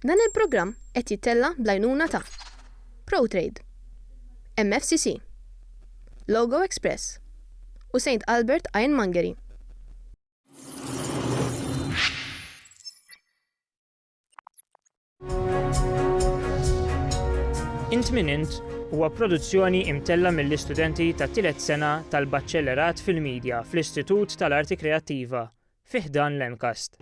Dan il-programm qed jittella' bl-għajnuna ta', Protrade, MFCC, Logo Express u Saint Albert Ironmongery. Int Min Int huwa produzzjoni imtella' mill-istudenti tat-tielet sena tal-Baċellerat fil-Media fl-Istitut tal-Arti Kreattiva fi ħdan l-MCAST.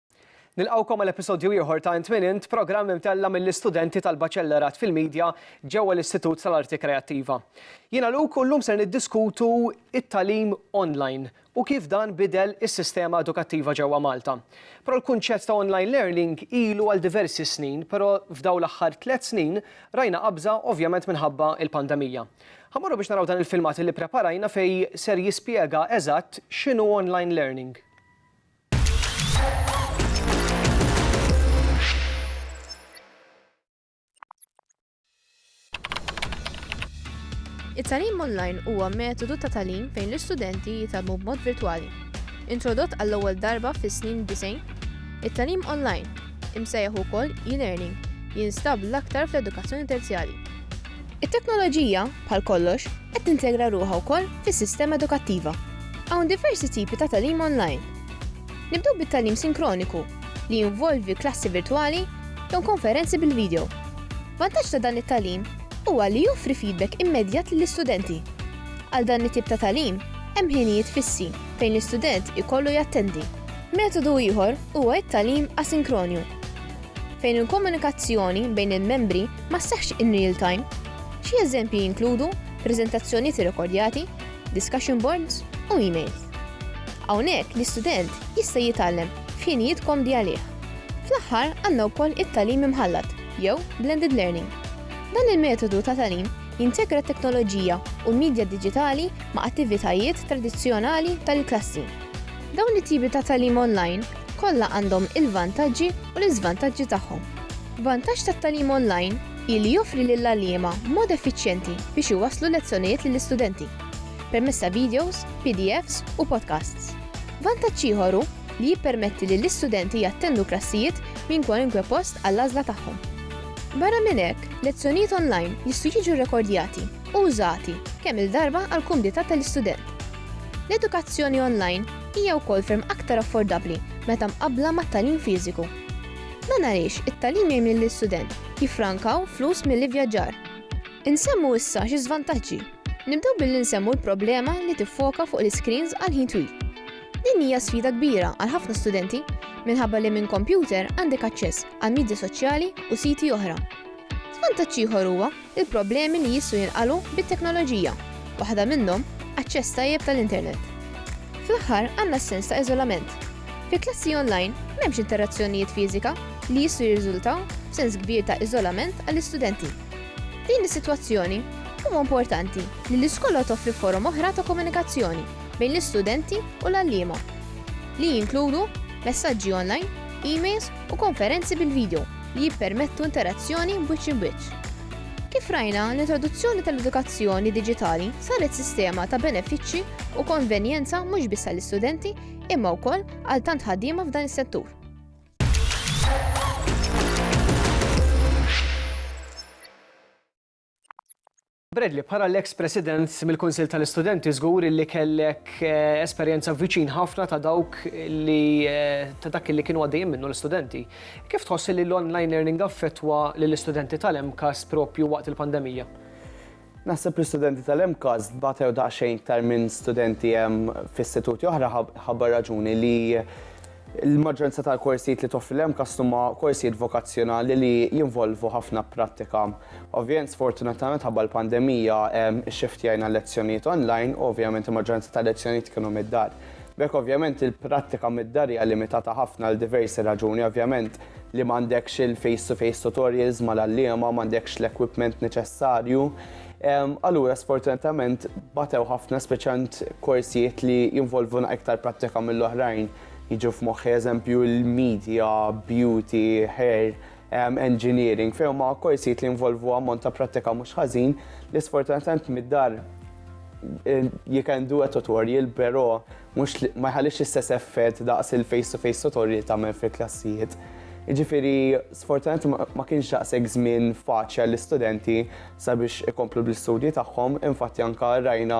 Nilqgħukom għal episodju ieħor ta' Int Min Int, programm imtella' mill-istudenti tal-Baċellerat fil-Media ġewwa l-Istitut tal-Arti Kreattiva. Jiena Luke u llum ser niddiskutu t-tagħlim online u kif dan bidel is-sistema edukattiva ġewwa Malta. Però l-kunċett ta' online learning ilu għal diversi snin, però f'dawn l-aħħar tliet snin rajna qabża ovvjament minħabba l-pandemija. Ħa mmorru biex naraw dan il-filmat li ppreparajna fejn ser jispjega eżatt x'inhu online learning. It-tagħlim online huwa metodu ta' tagħlim fejn l-istudenti jitgħallmu b'mod virtwali. Introdott għall-ewwel darba fis-snin 90, it-tagħlim online, imsejjaħ ukoll e-learning, jinstab l-aktar fl-edukazzjoni terzjali. It-teknoloġija, bħal kollox, qed tintegra ruħha wkoll fis-sistema edukattiva. Hawn diversi tipi ta' tagħlim onlajn. Nibdew bit-tagħlim sinkroniku, li jinvolvi klassi virtwali jew konferenzi bil-video. Vantaġġ ta' dan it-tagħlim huwa li joffri feedback immedjat lill-istudenti. Għal dan it-tip ta' tagħlim hemm ħinijiet fissi fejn l-istudent ikollu jattendi. Metodu ieħor huwa t-tagħlim asinkronju. Fejn il-komunikazzjoni bejn il-membri ma sseħħx in real time, xi eżempji jinkludu preżentazzjonijiet irrekordjati, discussion boards u emails. Hawnhekk l-istudent jista' jitgħallem f'ħinijiet komdi għalih. Fl-aħħar għandna wkoll it-tagħlim imħallat jew blended learning. Dan il-metodu ta' tagħlim jintegra t-teknoloġija u l-midja diġitali ma' attivitajiet tradizzjonali tal-klassi. Dawn it-tipi ta' tagħlim online Kollha għandhom il-vantaġġi u l-iżvantaġġi tagħhom. Vantaġġ tat-tagħlim online hi li joffri lill-għalliema mod effiċjenti biex iwasslu lezzjonijiet lill-istudenti, permezz ta' videos, PDFs u podcasts. Vantaġġ ieħor hu li jippermetti lill-istudenti jattendu klassijiet minn kwalunkwe post għall-għażla tagħhom. Barra minn hekk, lezzjonijiet online jistgħu jiġu rrekordjati u użati kemm-il darba għall-kumdità tal-istudent. L-edukazzjoni online hija wkoll ferm aktar affordabbli meta mqabbla mat-tagħlim fiżiku. Dan għaliex it-tagħlim jgħin lill-istudent jiffrankaw flus mill-ivvjaġġar. Insemmu issa xi żvantaġġi. Nibdew billi nsemmu l-problema li tiffoka fuq l-iscreens għal ħin twil. Din hija sfida kbira għal ħafna studenti minħabba li minn kompjuter għandek aċċess għal midja soċjali u siti oħra. Żvantaġġ ieħor huwa l-problemi li jistgħu jinqalgħu bit-teknoloġija, waħda minnhom aċċess tajjeb tal-internet. Fl-aħħar għandna s-sens ta' iżolament. Fi klassi onlajn m'hemmx interazzjonijiet fiżika li jistgħu jirriżultaw f'sens kbir ta' iżolament għall-istudenti. F'din is-sitwazzjoni, huwa importanti li l-iskola toffri forom oħra ta' komunikazzjoni bejn l-istudenti u l-għalliema, li jinkludu messaġġi onlajn, emails u konferenzi bil-vidjo. li jippermettu interazzjoni b'wiċċ imb'wiċċ. Kif rajna, l-introduzzjoni tal-edukazzjoni diġitali saret sistema ta' benefiċċji u konvenjenza mhux biss għall-istudenti imma wkoll għal tant ħaddiema f'dan is-settur. Bradley, bħala l-eks President mill-Kunsill tal-Istudenti żgur illi kellek esperjenza viċin ħafna ta' dawk li ta' dak illi kienu għaddejjin minnu l-istudenti. Kif tħoss illi l-online learning affettwa lill-istudenti tal-MCAST proprju waqt il-pandemija? Naħseb l-istudenti tal-MCAST batew daqsxejn iktar minn studenti f'istituti oħra ħabba raġuni li, Il-maġġoranza tal-korsijiet li toffri l-MCAST huma korsijiet vokazzjonali li jinvolvu ħafna prattika. Ovvjament, sfortunatament ħabba l-pandemija, ixxiftjajna l-lezzjonijiet online u ovvjament il-maġġoranza tal-lezzjonijiet kienu mid-dar. B'hekk ovvjament il-prattika mid-dar hija limitata ħafna għal diversi raġuni, ovvjament li m'għandekx il-face-to-face tutorials mal-għalliema, m'għandekx l-equipment neċessarju, Allura sfortunatament batew ħafna speċjant korsijiet li jinvolvuna iktar prattika mill-oħrajn. Jiġu f'moħħi eżempju l-media, beauty, hair, engineering, fejn ma' korsijiet li jinvolvu ammont ta' prattika mhux ħażin li sfortunatament mid-dar eh, you can do a tutorial, però mhux li ma jħallix l-istess effett daqs il-face to face tutorial tagħmel fil-klassijiet. Jiġifieri sfortunatament ma kienx daqshekk żmien faċli għall-istudenti sabiex ikomplu bl-istudji tagħhom, infatti anke rajna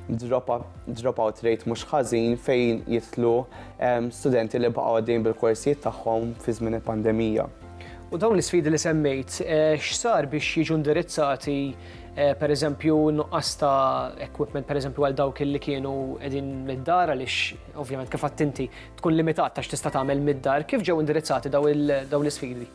dropout rate mhux ħażin fejn jitlu ehm, studenti li baqgħu għaddejn bil-korsijiet tagħhom fi żmien il-pandemija. U dawn l-isfidi li semmejt, eh, x'sar biex jiġu indirizzati per eżempju nuqqas ta' equipment per eżempju għal dawk li kienu qegħdin mid-dar għaliex ovvjament kif inti tkun limitat ta' x'tista' tagħmel mid-dar, kif ġew indirizzati dawn l-isfidi?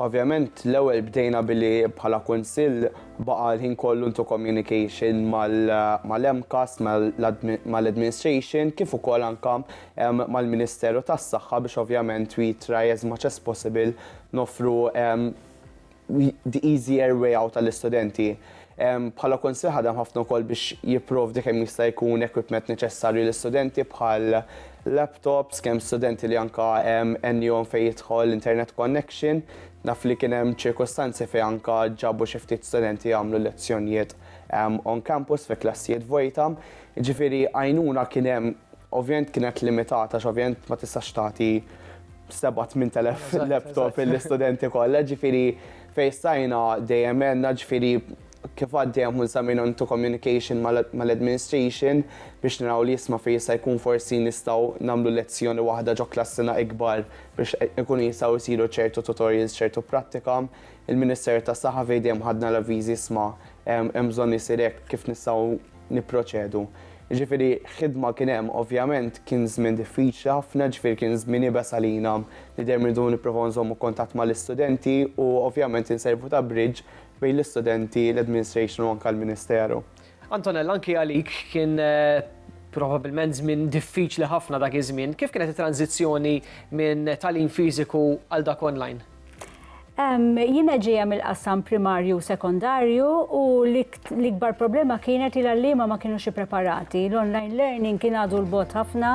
Ovvjament l-ewwel bdejna billi bħala Kunsill baqa' l-ħin kollu into communication mal-MCAST, mal-Administration kif ukoll anke mal-Ministeru tas-Saħħa biex ovvjament we try as much as possible noffru the easier way out għall-istudenti. Bħala kunsill ħadem ħafna wkoll biex jipprovdi kemm jista' jkun equipment neċessarju l-istudenti bħal laptops, kemm studenti li anka għennihom fejn jidħol internet connection. Naf li kien hemm ċirkustanzi fejn anka ġabu xi ftit studenti jagħmlu lezzjonijiet on campus fi klassijiet vojta. Ġifieri għajnuna kien hemm ovvjament kienet limitata x'ovvjament ma tistax tagħti 7-8,000 laptop l-istudenti kollha, ġifiri fejn stajna dejjem għenna ġifiri kif għaddejjem minn sa minn to communication mal-administration biex naraw li jisma fejn jista' jkun forsi nistgħu nagħmlu lezzjoni waħda ġo klassina ikbar biex ikun jistgħu jsiru ċertu tutorials, ċertu prattika. Il-Ministeru tas-Saħħa fejn dejjem ħadna l-avviżi isma' hemm bżonn isir hekk kif nistgħu nipproċedu. Ġifieri ħidma kien hemm, ovvjament kien żmien diffiċli ħafna, ġifieri kien żmien iebes għalina li dejjem irridu nipprovaw nżommu kuntatt mal-istudenti u ovvjament inservu ta' bridge bejn l-istudenti, l-administration u anke l-Ministeru. Antonella, anke għalik kien probabbilment żmien diffiċli ħafna dak iż-żmien. Kif kienet it-tranżizzjoni minn tagħlim fiżiku għal dak online? Jiena ġejja mill-qasam primarju u sekondarju u l-ikbar problema kienet li l-għalliema ma kienux ippreparati. L-online learning kien għadu l-bot ħafna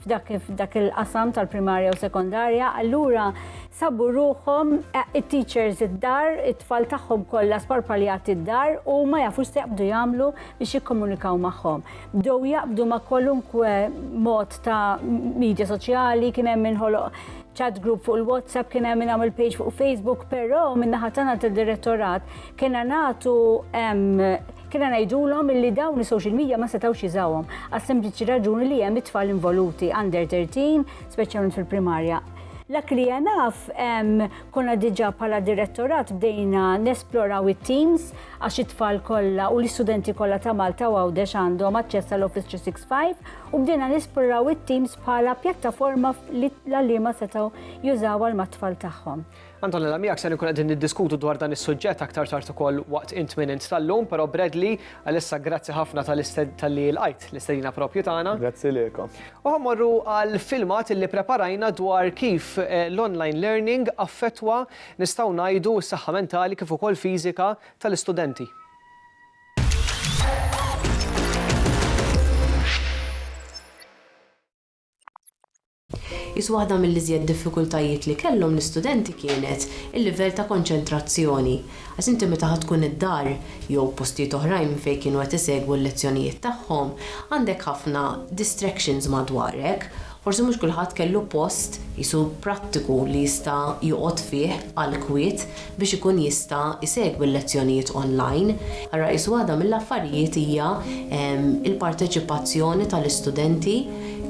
f'dak il-qasam tal-primarja u sekondarja, allura sabu ruħhom it-teachers id-dar, it-tfal tagħhom kollha sparpaljati d-dar u ma jafux se jaqbdu jagħmlu biex jikkomunikaw magħhom. Bdew jaqbdu ma' kwalunkwe mod ta' media soċjali, kien hemm inħoloq chat group fuq il-WhatsApp, kien hemm nagħmel page fuq Facebook, però min-naħa tagħna tad-direttorat kienna nagħtu kienna ngħidulhom li dawn is-social media ma setgħux jiżawhom għas sempliċi raġuni li hemm it-tfal involuti under 13, speċjalment fil-primarja. Lak li jenaf, konna diġa pala direttorat bdejna nesploraw it-teams għax it-tfal kolla u l-istudenti kolla ta' Malta u għawdex għandhom aċċess għal Office 365 u bdejna nesploraw it-teams bħala pjattaforma li l-għalliema setgħu jużaw għal mat-tfal tagħhom. Antonella, miegħek se nkun qegħdin niddiskutu dwar dan is-suġġett aktar tard ukoll waqt int minn int tal-lum, però Bradley, għalissa grazzi ħafna tal-li l-qajt l-istedina propju tagħna. Grazzi lilkom. U ħammorru għal filmat li preparajna dwar kif eh, l-online learning affettwa nistgħu ngħidu s-saħħa mentali kif ukoll fiżika tal-istudenti. Qis waħda mill-iżjed diffikultajiet li kellhom l-istudenti kienet il-livell ta' konċentrazzjoni, għax inti meta ħa tkun id-dar jew postijiet oħrajn minn fejn kienu qed isegwu l-lezzjonijiet tagħhom, għandek ħafna distractions madwarek. Forsi mhux kulħadd kellu post, qisu prattiku, li jista' joqgħod fih għall-kwiet. biex ikun jista' jsegwi l-lezzjonijiet onlajn. Ara qisu waħda mill-affarijiet hija l-parteċipazzjoni tal-istudenti,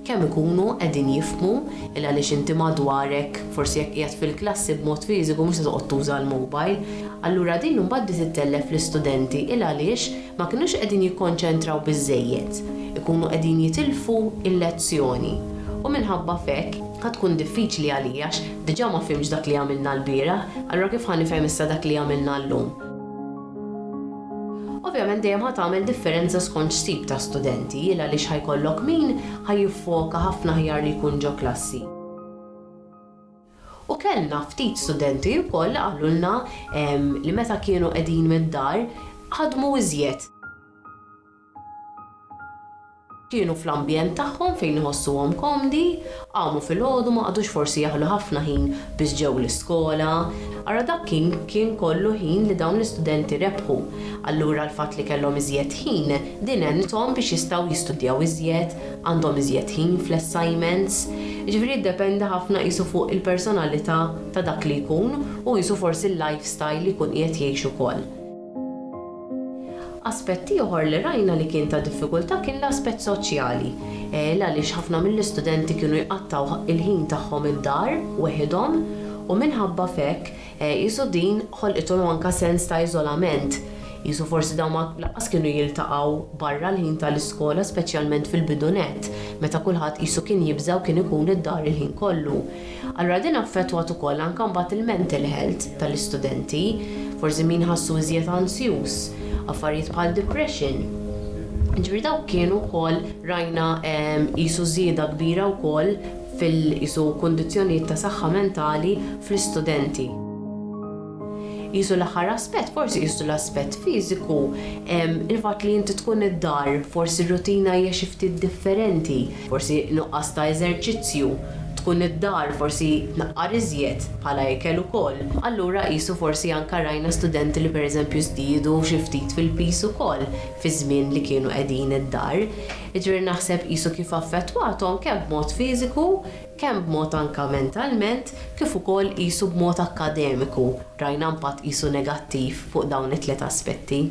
kemm ikunu qegħdin jifhmu, il għaliex inti madwarek, forsi jekk qiegħed fil-klassi b'mod fiżiku mhux se toqgħod tuża l-mobile. Allura din imbagħad bdiet ittellef l-istudenti, il għaliex ma kinux qegħdin jikkonċentraw biżżejjed, ikunu qegħdin jitilfu l-lezzjoni u minħabba f'hekk ħa tkun diffiċli għalija għax diġà ma fhimtx dak li għamilna lbieraħ, allura kif ħa nifhem issa dak li għamilna llum? Ovvjament dejjem ħa tagħmel differenza skont x'tip ta' studenti, il għaliex ħa jkollok min ħa jiffoka ħafna aħjar li jkun ġo klassi. U kellna ftit studenti wkoll li qalulna li meta kienu qegħdin mid-dar ħadmu iżjed. Kienu fl-ambjent tagħhom fejn iħossuhom komdi, qamu filgħodu ma qagħdux forsi jaħlu ħafna ħin biss ġew l-iskola. Ara dak kien kien kollu ħin li dawn l-istudenti rebħu. Allura l-fatt li kellhom iżjed ħin din għenithom biex jistgħu jistudjaw iżjed, għandhom iżjed ħin fl-assignments, jiġifieri jiddependi ħafna qisu fuq il-personalità ta' dak li jkun u qisu forsi l-life style li jkun qiegħed jgħix ukoll. Aspett ieħor li rajna li kien ta' diffikultà kien l-aspett soċjali, l għaliex ħafna mill-istudenti kienu jqattgħu il-ħin tagħhom id-dar weħidhom u minħabba f'hekk Qisu din ħolqithom anke sens ta' iżolament. Qisu forsi dawn ma lanqas kienu jiltaqgħu barra l-ħin ta' l-iskola speċjalment fil-bidu nett, meta kulħadd qisu kien jibża' u kien ikun id-dar il-ħin kollu. Allura din affettwat ukoll anke mbagħad il-mental health ta' l-istudenti. Forsi min ħassu iżjed anzjuż, affarijiet bħal depression. Jiġifieri dawk kienu wkoll rajna qisu żieda kbira wkoll. fil-qisu kundizzjonijiet ta' saħħa mentali fl-istudenti. Qisu l-aħħar aspett, forsi qisu l-aspett fiżiku, il-fatt li inti tkun id-dar, forsi r-rutina hija xi ftit differenti, forsi nuqqas ta' eżerċizzju, tkun id-dar, forsi tnaqqar iżjed bħala ikel ukoll. Allura qisu forsi anke rajna studenti li pereżempju żdiedu xi ftit fil-piż ukoll fiż-żmien li kienu qegħdin id-dar. Jiġifieri naħseb qisu kif affettwathom kemm b'mod fiżiku, kemm b'mod anke mentalment, kif ukoll qisu b'mod akkademiku, rajna impatt qisu negattiv fuq dawn it-tliet aspetti.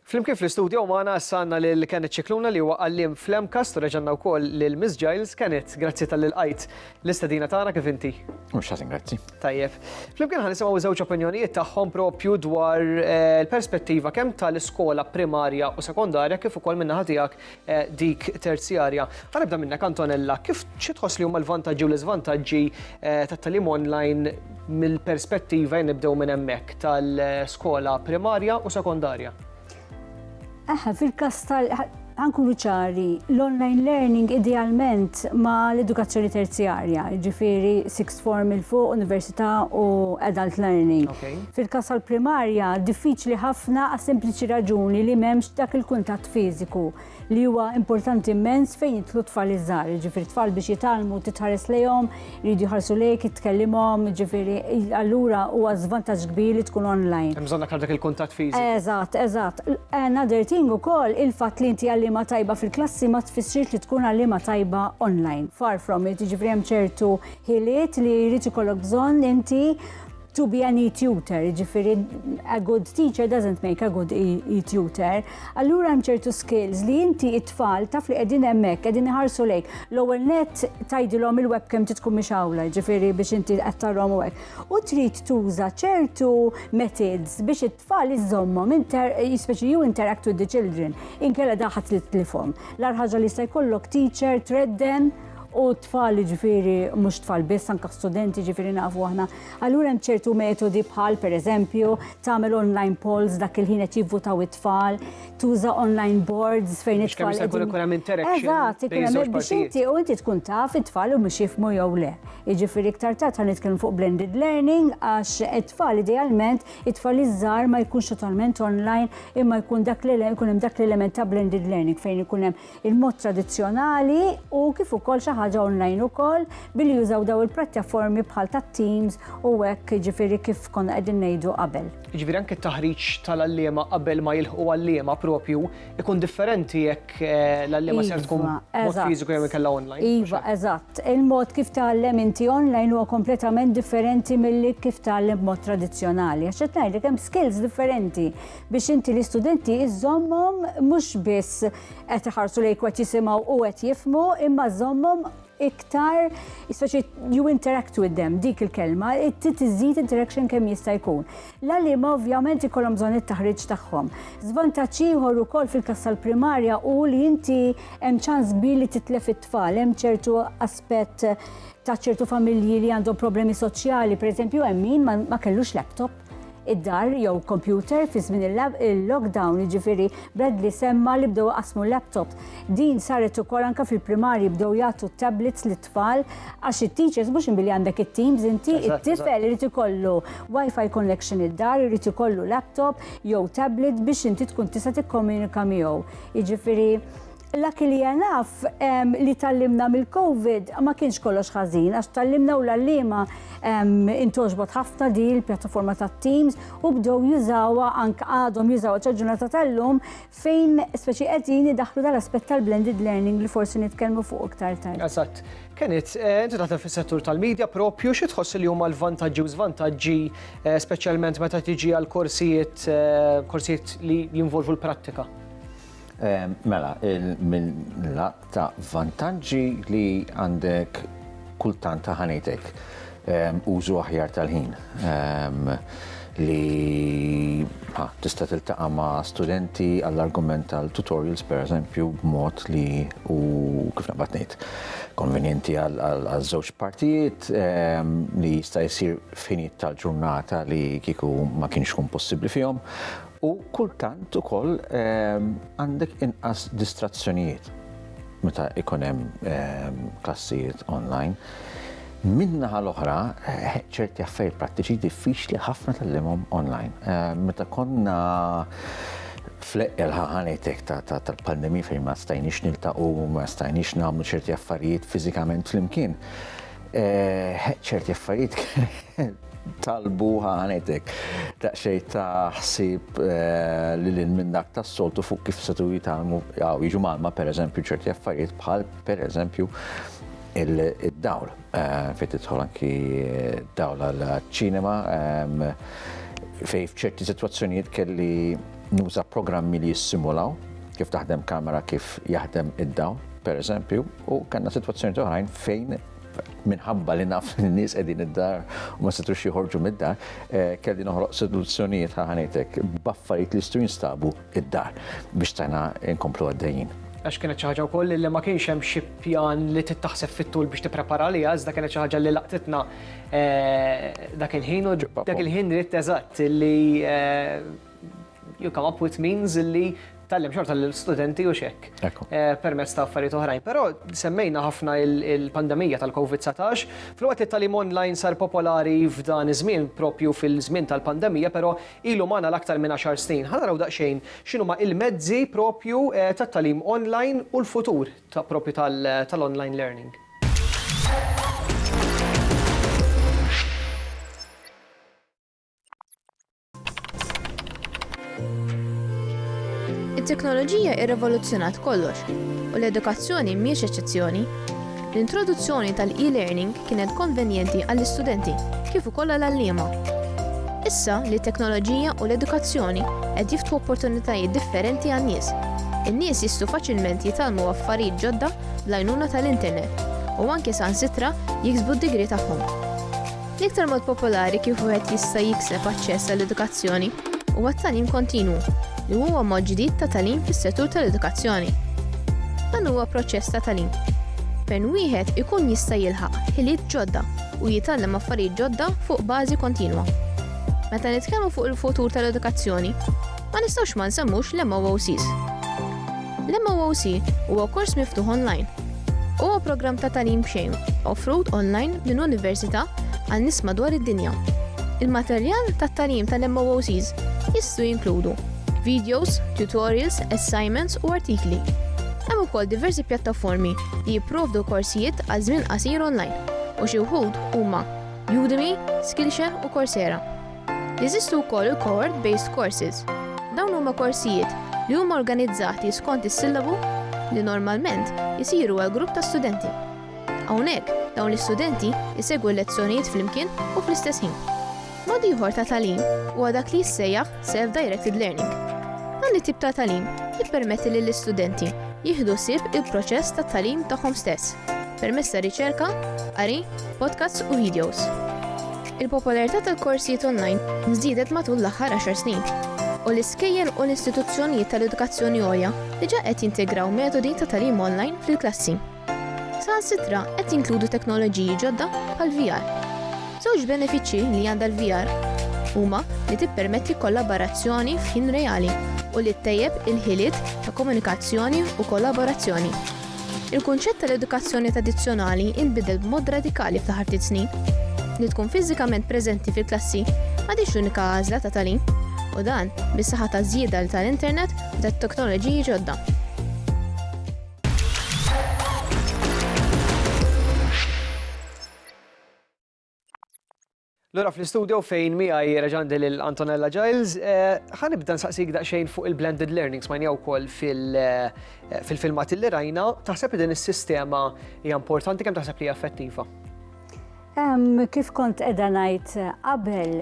Flimkien fl-istudjo magħna issa għandna lil Kenneth Scicluna li huwa għalliem fl-MCAST u reġa' għandna wkoll lil Miss Giles. Kenneth, grazzi talli lqajt l-istedina tagħna kif inti? Mhux ħażin grazzi. Tajjeb. Flimkien ħa nisimgħu żewġ opinjonijiet tagħhom propju dwar eh, l-perspettiva kemm tal-iskola primarja u sekondarja kif ukoll min-naħa tiegħek dik terzjarja. Ħa nibda minnek Antonella, kif xi tħoss li huma l-vantaġġi u l-iżvantaġġi tat-tagħlim online mill-perspettiva, jien nibdew minn hemmhekk, tal-skola primarja u sekondarja? Aha, fil-każ tal ħa nkunu ċari, l-online learning idealment ma l-edukazzjoni terzjarja, jiġifieri form il-fuq, università u adult learning. Fil-kas tal-primarja, diffiċli ħafna għas sempliċi raġuni li memx dak il-kuntatt fiżiku li huwa importanti immens fejn jitlu tfal iżgħar, ġifir tfal biex jitalmu titħares lejhom, jridu jħarsu lejk, jitkellimhom, ġifiri allura huwa żvantaġġ kbir li tkun online. Hemm bżonn dak il-kuntatt fiżiku. Eżatt, eżatt. Another thing ukoll il-fatt li inti għallima tajba fil-klassi ma tfissirx li tkun għallima tajba online. Far from it, jiġifieri hemm ċertu ħiliet li jrid ikollok bżonn inti to be an e-tutor, ġifiri a good teacher doesn't make a good e-tutor. Allura hemm ċertu skills li inti it-tfal taf li qegħdin hemmhekk, qegħdin iħarsu lejk. L-ewwel net tgħidilhom il-webcam titkun mhix awla, ġifiri biex inti qed tarhom u hekk. U trid tuża ċertu methods biex Tfal iżżommhom inter speċi you interact with the children, inkella daħat li tlifhom. L-ar ħaġa li jista' jkollok teacher tredden u tfal ġifiri mhux tfal biss anke studenti ġifiri nafu aħna. Allura hemm ċertu metodi bħal pereżempju tagħmel online polls dak il-ħin qed jivvutaw it-tfal, tuża online boards fejn Biex kemm it-tfal jista' jkun qegħdin- ikun hemm interaction Eżatt, ikun bejn hemm żewġ biex partijiet. inti u inti tkun taf it-tfal u mhux jifmu jew le. Jiġifieri iktar tard ħan nitkellmu fuq blended learning għax it-tfal idealment It-tfal iż-żgħar ma jkunx totalment online imma jkun dak li jkun hemm dak l-element ta' blended learning fejn ikun hemm il-mod tradizzjonali u kif ukoll xi ħaġa online ukoll billi jużaw daw il-prattjaformi bħal tat-Teams u hekk jiġifieri kif konna qegħdin ngħidu qabel. Jiġifieri anke t-taħriġ tal-għalliema qabel ma jilħqu għalliema proprju ikun differenti jekk eh, l-allema ser tkun Iva, mod eżatt. fiżiku jew ikella online. Iva, eżatt. Il-mod kif tgħallem inti online huwa kompletament differenti milli kif tgħallem b'mod tradizzjonali. Għax qed ngħidlek hemm skills differenti biex inti l-istudenti iżommhom mhux biss qed iħarsu lejk qed jisimgħu u qed jifmu imma żommhom iktar isfaċi you interact with them, dik il-kelma, tiżżid interaction kemm jista' jkun. L-għalima ovvjament ikollhom bżonn it-taħriġ tagħhom. Żvantaġġ ieħor ukoll fil-kas tal-primarja u li inti hemm ċans kbir li titlef it-tfal, hemm ċertu aspett ta' ċertu familji li għandhom problemi soċjali, pereżempju hemm min ma kellux laptop. id-dar jew kompjuter fi żmien il-lockdown, jiġifieri Bradley semma li bdew iqassmu laptops. Din saret ukoll anke fil-primarji bdew jagħtu tablets lit-tfal għax it-teachers mhux inbili għandek it-teams inti it-tifel irid ikollu wifi connection id-dar, irid ikollu laptop jew tablet biex inti tkun tista' tikkomunika miegħu. Jiġifieri L-aki li għanaf li tallimna mill-Covid ma kienx kollox ħażin, għax tallimna u l-allima intoġbot ħafna di l-pjattaforma ta' Teams u bdew jużawa anke għadhom jużawa ċaġunata tal-lum fejn speċi qegħdin idaħlu dal-aspett tal-blended learning li forsi nitkellmu fuq iktar tard. Eżatt. Kenit, eh, inti taħdem fis-settur tal-medja propju xi tħoss li huma l-vantaġġi u żvantaġġi eh, speċjalment meta tiġi għal korsijiet eh, korsijiet li jinvolvu l-prattika? Mela, mill-lat ta' vantaġġi li għandek kultant ta' ħanejtek użu aħjar tal-ħin li tista' tiltaqa' ma' studenti għall-argument tal-tutorials pereżempju b'mod li hu kif naqbad ngħid konvenjenti għaż-żewġ partijiet li jista' jsir f'ħinijiet tal-ġurnata li kieku ma kienx ikun possibbli fihom U kultant ukoll għandek inqas distrazzjonijiet meta ikun hemm klassijiet online. Min-naħa l-oħra, ċerti affarijiet prattiċi diffiċli ħafna tallimhom online. Meta konna fl-eqqel ħaħanetek tal-pandemija fejn ma stajniex niltaqgħu, ma stajniex nagħmlu ċerti affarijiet fiżikament flimkien. Eh, ċerti affarijiet talbu ħanetek daqsxej ta' ħsieb eh, li lil minn dak tas-soltu fuq kif setu jitalmu jew jiġu malma pereżempju ċerti affarijiet bħal pereżempju il-dawl eh, fejn tidħol anki eh, dawl għall-ċinema ehm, fej f'ċerti sitwazzjonijiet kelli nuża programmi li jissimulaw kif taħdem kamera kif jaħdem id-dawl pereżempju u kellna sitwazzjoni oħrajn fejn minħabba li naf li n-nies qegħdin id-dar u ma setux jħorġu mid-dar, eh, kelli noħroq seduzzjonijiet ħaħanitek b'affarijiet li jistgħu jinstabu id-dar biex tagħna nkomplu għaddejjin. Għax kienet xi ħaġa wkoll li ma kienx hemm xi pjan li tittaħseb fit-tul biex tipprepara li iżda kienet xi ħaġa li laqtitna eh, dak il-ħin u dak il-ħin ritt eżatt li eh, you come up with means illi tallem xorta l-studenti u xek eh, permezz ta' affarijiet oħrajn. Però semmejna ħafna il-pandemija tal-COVID-19, fil-waqt li talim online sar popolari f'dan iż-żmien propju fil-żmien tal-pandemija, però ilu magħna l-aktar minn 10 snin. Ħana raw daqsxejn x'inhu ma il-mezzi propju eh, tat-talim online u l-futur ta' propju tal-online learning. It-teknoloġija irrevoluzzjonat kollox u l-edukazzjoni mhijiex eċċezzjoni. L-introduzzjoni tal-e-learning kienet konvenjenti għall-istudenti kif ukoll għall-għalliema. Issa li t-teknoloġija u l-edukazzjoni qed jiftħu opportunitajiet differenti għan-nies, in-nies jistgħu faċilment jitgħallmu affarijiet ġodda bl-għajnuna tal-internet u anke saħansitra jiksbu d-degree tagħhom. L-iktar mod popolari kif wieħed jista' jikseb aċċess għall-edukazzjoni huwa t-tagħlim kontinwu, li huwa mod ġdid ta' tagħlim fis-settur tal-edukazzjoni. Dan huwa proċess ta' tagħlim fejn wieħed ikun jista' jilħaq ħiliet ġodda u jitgħallem affarijiet ġodda fuq bażi kontinwa. Meta nitkellmu fuq il-futur tal-edukazzjoni, ma nistgħux ma nsemmux l-MOOCs. L-MOOC huwa kors miftuħ online Huwa programm ta' tagħlim b'xejn offrut online minn università għal nies madwar id-dinja. Il-materjal tat-tagħlim tal-MOOCs jistgħu jinkludu videos, tutorials, assignments u artikli. Hemm ukoll diversi pjattaformi li jipprovdu korsijiet għal żmien qasir online u xi wħud huma Udemy, Skillshare u Coursera. Jeżistu wkoll il-cohort-based courses. Dawn huma korsijiet li huma organizzati skont is-sillabu li normalment isiru għal grupp ta' studenti. Hawnhekk, dawn l-istudenti jsegwu l-lezzjonijiet flimkien u fl-istess ħin. Mod ieħor ta' tagħlim huwa dak li jissejjaħ self-directed learning. Dan it-tip ta' tagħlim jippermetti lill-istudenti jieħdu sib il-proċess ta' tagħlim tagħhom stess permezz ta' riċerka, qari, podcasts u videos. Il-popolarità tal-korsijiet onlajn żdiedet matul l-aħħar għaxar snin, u l-iskejjel u l-istituzzjonijiet tal-edukazzjoni għolja diġà qed jintegraw metodi ta' tagħlim onlajn fil-klassi. Saħansitra qed jinkludu teknoloġiji ġodda bħall-VR. Żewġ benefiċċji li għandha l-VR huma li tippermetti kollaborazzjoni f'ħin reali u li ttejjeb il-ħiliet ta' komunikazzjoni u kollaborazzjoni. Il-kunċett tal-edukazzjoni tradizzjonali inbidel b'mod radikali fl-aħħar ftit snin. Li tkun fiżikament preżenti fil-klassi m'għadhiex l-unika għażla ta' tagħlim, u dan bis-saħħa taż-żjieda tal-internet u tat-teknoloġiji ġodda. Lura fl-istudio fejn miegħi reġandi lil Antonella Giles, eh, ħanibda nsaqsik daqsxejn fuq il-blended learning smajnija wkoll eh, fil-filmat li rajna, taħseb li din is-sistema hija importanti kemm taħseb li hija effettiva? Kif kont qiegħda ngħid eh, qabel,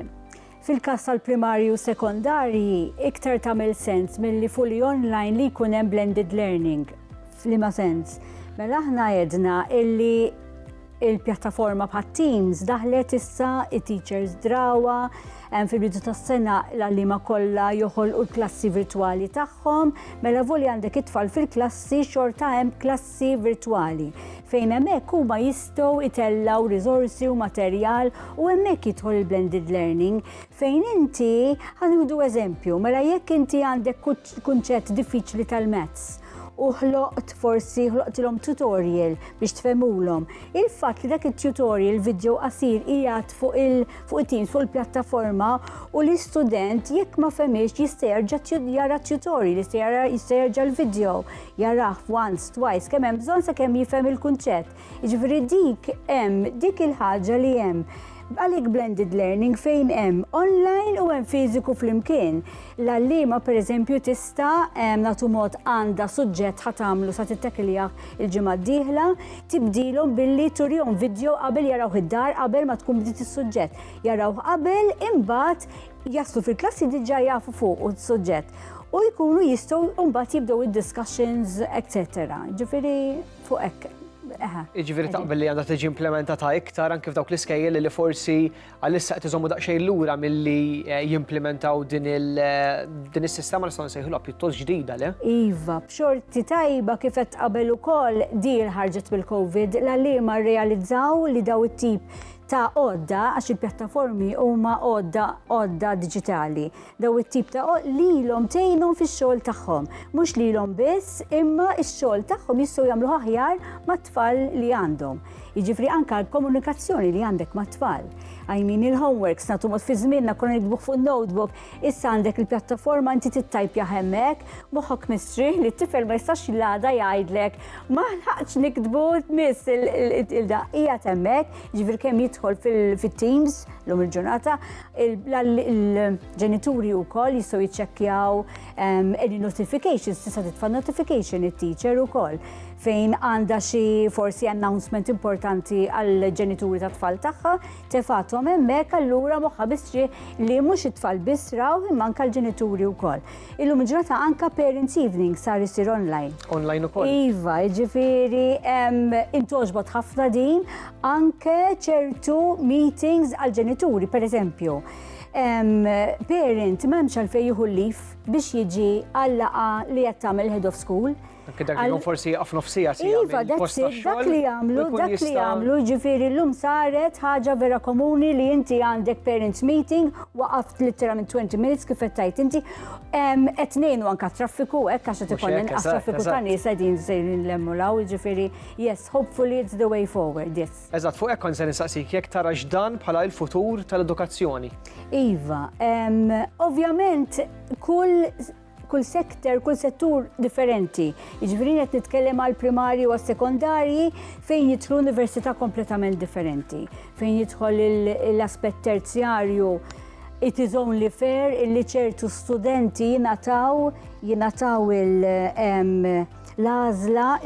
fil-każ tal-primarju sekondarji iktar tagħmel sens milli fully online li jkun hemm blended learning. F'liema sens? Mela aħna għedna illi Il-pjattaforma bħat Teams daħlet issa it-teachers drawa fil-bidu tas-sena l-għalliema kollha joħolqu l-klassi virtwali tagħhom, mela voli għandek it-tfal fil-klassi xorta hemm klassi virtwali fejn hemmhekk huma jistgħu itellgħu riżorsi u materjal u hemmhekk jidħol il-blended learning fejn inti ħanudu eżempju, mela jekk inti għandek kunċett diffiċli tal-mezz u ħloqt forsi ħloqtilhom tutorial biex tfemulhom. Il-fatt li dak it-tutorial video qasir qiegħed fuq il-Teams fuq il-pjattaforma u l-istudent jekk ma femiex jista' jerġa' jara tutorial, jista' jerġa' l-video, jarah once, twice, kemm hemm bżonn sakemm jifhem il-kunċett. Jiġifieri dik hemm dik il-ħaġa li hemm għalik blended learning fejn hemm online u hemm fiżiku flimkien. L-għallima pereżempju tista' nagħtu mod għandha suġġett ħat tagħmlu sa tittekilja il-ġimgħa d-dieħla, tibdilhom billi turihom video qabel jaraw id-dar qabel ma tkun bdiet is-suġġett. Jaraw qabel imbagħad jaslu fil-klassi diġà jafu fuq u suġġett u jkunu jistgħu mbagħad jibdew id-discussions, etc. Ġifieri Fuq hekk. Jiġifieri taqbel li għandha tiġi implementata iktar anke f'dawk l-iskejjel li forsi għalissa qed iżommu daqsxejn lura milli eh, jimplementaw din eh, is-sistema nistgħu nsejħilha pjuttost ġdida le? Iva, b'xorti tajba kif qed qabel ukoll din ħarġet mill-COVID l-għalliema rrealizzaw li daw it-tip ta' għodda għax il-pjattaformi huma għodda għodda diġitali. Dawn it-tip ta' għoqd lilhom tgħinhom fix-xogħol tagħhom. Mhux lilhom biss, imma x-xogħol tagħhom jistgħu jagħmluh aħjar mat-tfal li għandhom. Jiġifieri anke l-komunikazzjoni li għandek mat-tfal. I mean il-homeworks nagħtu mod fi żmienna konna nikdbuh fuq notebook, issa għandek il-pjattaforma inti tittajpja hemmhekk, moħħok mistrieħ li t-tifel ma jistax l-għada jgħidlek ma ħaqx nikdbu miss il-da hija temmek, ġifier kemm jidħol fit-teams lum il-ġurnata, Il-ġenituri u koll jistaw jitċekjaw any notifications, tista' titfa' notification it-teacher u koll fejn għanda xi forsi announcement importanti għall-ġenituri ta' tfal tagħha, tefatom hemmhekk allura moħħa bistri li mhux it-tfal biss raw imma anke l-ġenituri wkoll. Illum il-ġurnata anka Parents Evening sar isir online. Online ukoll. Iva, ġifiri, intoġbot ħafna din, anke ċertu meetings għal-ġenituri, per eżempju. Parent memx għalfej juhu lif biex jiġi għallaqa li jattam il-head of school, Anke dak li forsi jieqaf nofsija si Iva, dak li jagħmlu, dak li jagħmlu, ġifieri llum saret ħaġa vera komuni li inti għandek parents meeting, waqaft literalment 20 minutes kif qed tgħid inti, qed ngħinu anke traffiku hekk għax qed ikun inqas traffiku ta' nies qegħdin sejrin lemmu law, ġifieri yes, hopefully it's the way forward, yes. Eżatt, fuq hekk kont se nistaqsik jekk tara x'dan bħala l-futur tal-edukazzjoni. Iva, ovvjament kull kull sektor, kull settur differenti. Jiġifieri qed nitkellem għal primarji u sekondarji fejn jidħlu università kompletament differenti, fejn jidħol l-aspett terzjarju it is only fair illi ċertu studenti jinataw jinataw l-għażla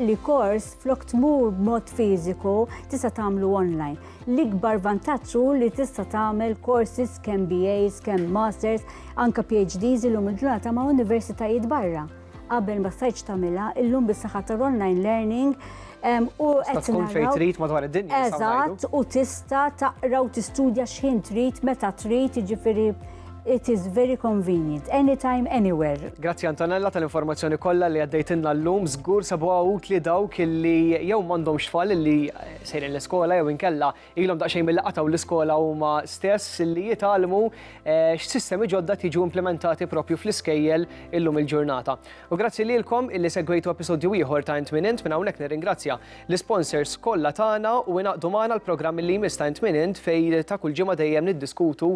li kors flok tmur b'mod fiżiku tista' tagħmlu online. L-ikbar vantaġġ hu li tista' tagħmel courses kemm BAs, kemm Masters, anke PhDs illum il-ġurnata ma' universitajiet barra. Qabel ma stajtx tagħmilha, illum bis-saħħa tal-online learning u qed tkun fejn trid madwar id-dinja. Eżatt, u tista' taqra u tistudja x'ħin trid meta trid, jiġifieri It is very convenient, anytime, anywhere. Grazzi Antonella tal-informazzjoni kollha li għaddejtilna llum, żgur sabuha utli dawk li jew m'għandhomx tfal li sejrin l-iskola jew inkella ilhom daqsxejn milli qatgħu l-iskola huma stess li jitgħallmu eh, x'sistemi ġodda tiġu implementati propju fl-iskejjel illum il-ġurnata. U grazzi lilkom illi segwejtu episodju ieħor ta' Int Minint minn hawnhekk nirringrazzja l-sponsors kollha tagħna u inaqdu magħna l-programm li jmiss ta' Int Minint fej ta' kull ġimgħa dejjem niddiskutu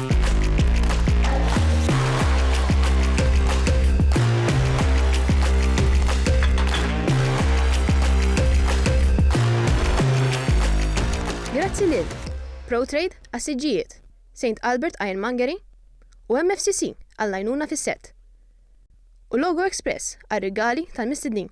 Grazzi lil ProTrade għas-siġġijiet, St Albert Ironmongery u MFCC għall-għajnuna fis-sett, u Logo Express għar-rigali tal-mistednin.